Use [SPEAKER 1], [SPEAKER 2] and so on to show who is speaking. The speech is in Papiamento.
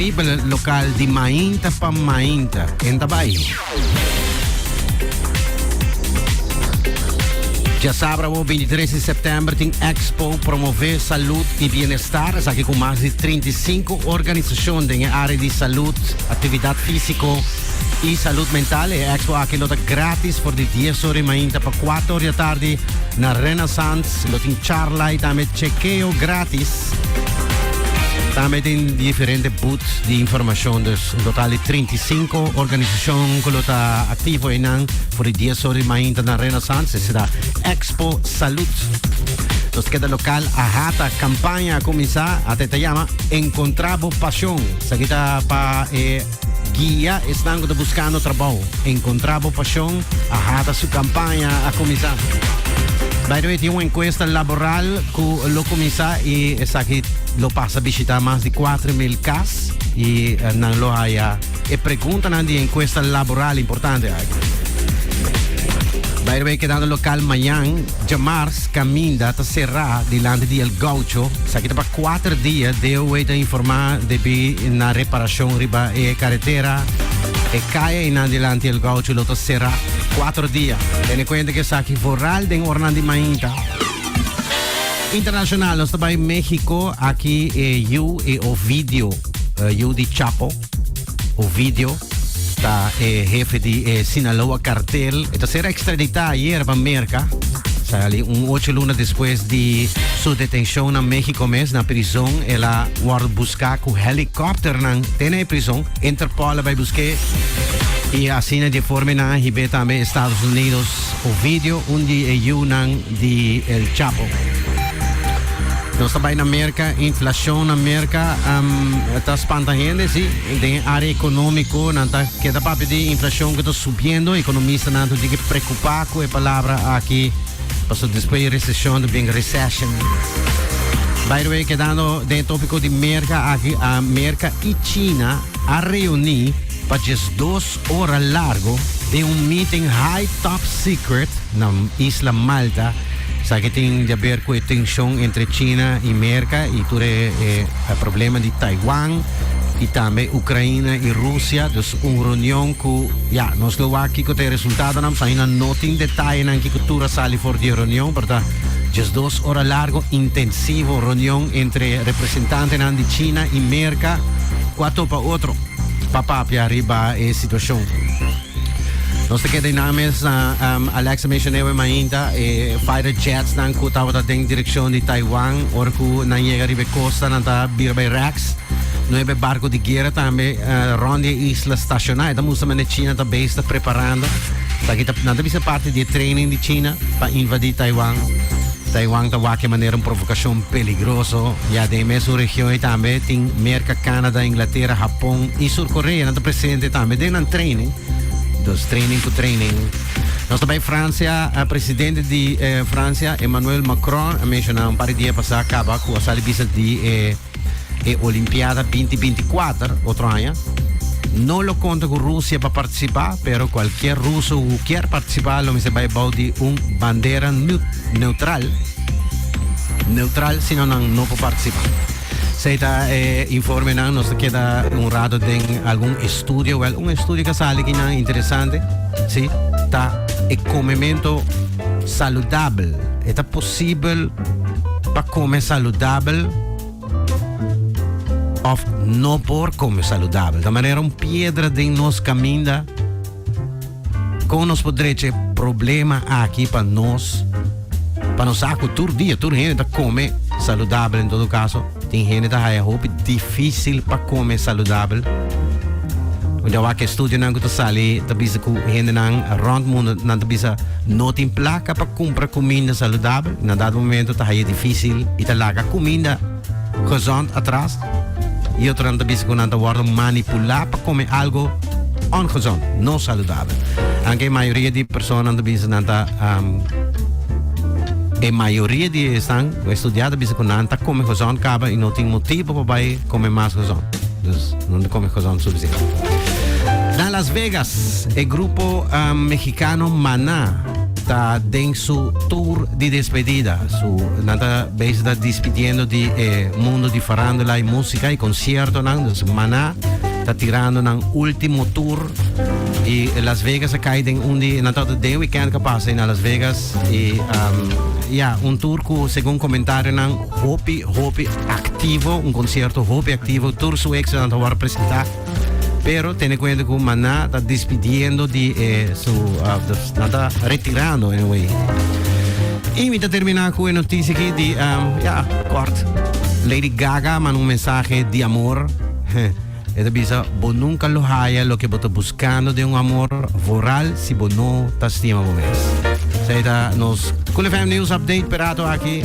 [SPEAKER 1] Bibel lokal di mainta pa mainta. Hen ta bai. Dja sábrabo 23 di september tin Expo Promové Salud i Bienestar, esaki ku mas di 35 organisashon den e área di salud, aktividat físiko i salud mental. E expo aki lo ta grátis for di 10 ora di mainta pa 4 ora di atardi na Renaissance Lo tin charla y tambe chekeo gratis. Tambe tin diferente booth di informacion. Dus un total di trinta i sinku organisacion cu lo ta activo einan for di dies ora di mainta na Renaissance. Esey ta Expo Salud. Nos keda local a hata. Campaña a cuminsa. Ata e ta yama Encontra bo pasion. Esaki ta pa e. Guia, Esnan ku ta buskando trabou, a enkontrá bo pashon, a hata su kampaña a kuminsá. By the way, tin un enkuesta laboral ku lo kuminsá i esaki lo pasa bishitá mas di kuater mil kas i nan lo haya e preguntanan di e enkuesta laboral importante aki. By the way, kedando lokal mañan. Djamars kaminda ta será dilanti di El Gaucho. Esaki ta pa kuater dia. DOH ta informá debí na reparashon riba e karetera. E kai einan dilanti El Gaucho lo ta será kuater dia. Tene kuenta ku esaki vooral den oranan di mainta. Internashonal, nos ta bai México, aki e yu, e Ovidio, yu di Chapo. Ovidio ta e hefe di e Sinaloa Cartel. E ta ser extradita ayer pa Merca. Sali un ocho luna despues di su detencion na Mexico mes, na prison. El a worde busca cu helicopternan te na e prison. Interpol a bay busque y asina dje forma nan a hibe tambe Estados Unidos. Fotos o video un di e yiunan di El Chapo. Nos ta bai na Merca, inflacion na Merca um, ta spanta hende, si. Den área económico, nan ta keda papia di inflacion cu ta subiendo. Economistanan ta diki preocupa cu e palabra aki, paso despues recesión ta bien recession. By the way, quedando de tópico de Merca, aquí, a Merca y China a reunir para 2 Ora largo den un meeting high top secret na isla Malta sa ke tin di aber ku e tenshon entre China i Merka i tur e problema di Taiwan i tambe Ukraina i Rusia. Dus un reunion ku ya nos lo wak kiko ta e resultadonan pasobra aina no tin detayenan kiko tur a sali for di e reunion pero ta diesdos ora largo intensivo reunion entre representantenan di China i Merka ku a topa otro. pa papia riba e situacion. Nos te keda in nan mes na um, Alex mencionewe mainta e fighter jets nan ku tabata den direccion di Taiwan or ku nan llega riba e costa nan ta bira bay Rex. Nueve barco di guerra tambe uh, rond die isla staciona. Eta musta mende China ta bezig ta preparando. Ta kita nan ta bisa parte di training di China pa invadi Taiwan. Taiwan ta wak e manera un provokashon peligroso. Ya den e mesun region ei tambe tin Merka, Canada, Inglatera, Hapon i Sur Korea. Nan ta presente tambe den nan training. Dus training ku training. Nos ta bai Fransia. Presidente di Fransia, Emmanuel Macron, a menshoná un par di dia pasá kaba ku a sali bisa di e. E Olimpiada binti binti kuater otro aña no lo konta ku Rusia pa partisipá, pero kualkier ruso ku kier partisipá lo mester bai bou di un bandera neutral, neutral si no nan no por partisipá. Sei ta e informenan nos ta keda un rato den algun estudio, wel un estudio ka sali kinan interesante, si ta e komemento saludabel. E ta posibel pa come saludabel of no por come saludabel. Ta manera un piedra den nos caminda. Con nos por drecha e problema aki pa nos, pa nos sa cu tur dia, tur hende ta come saludabel en todo caso. Tin hende ta haya hopi difícil pa kome saludabel. Un di awak e studionan ku ta sali ta bisa ku hendenan rònt mundu nan ta bisa no tin plaka pa kumpra kuminda saludabel. Na dado momento ta haya difícil i ta laga kuminda gezond atras. I otronan ta bisa ku nan ta wòrdu manipulá pa kome algu ongezond, no saludabel. Anke e mayoria di e persona nan ta bisa nan ta e mayoria di esnan. Un estudiá ta bisa ku nan ta kome hozon kaba i no tin motibu pa bai kome mas hozon. Dus no ta kome hozon sufisiente. Na Las Vegas e grupo mexikano Maná ta den su tur di despedida. Su nan ta bezig ta dispidiendo di e mundo di farándula i músika i konsiertonan. Dus Maná ta tirando nan último tur i Las Vegas a kai den un di nan tabata den wikènt ku a pasa ei na Las Vegas. E ya, un tur ku segun komentarionan hopi, hopi aktivo, un konsierto hopi aktivo, tur su éksitonan ta wòrdu presentá. Pero tene kuenta ku Maná ta despidiendo di e su, nan ta retirando en un wei. I mi ta terminá ku e notisi aki di, ya, kòrt, Lady Gaga manda un mensahe di amor. E ta bisa, Bo nunka lo haya loke bo ta buskando den un amor vooral si bo no ta stima bo mes. Esei ta nos Cool FM News Update p'e rato aki.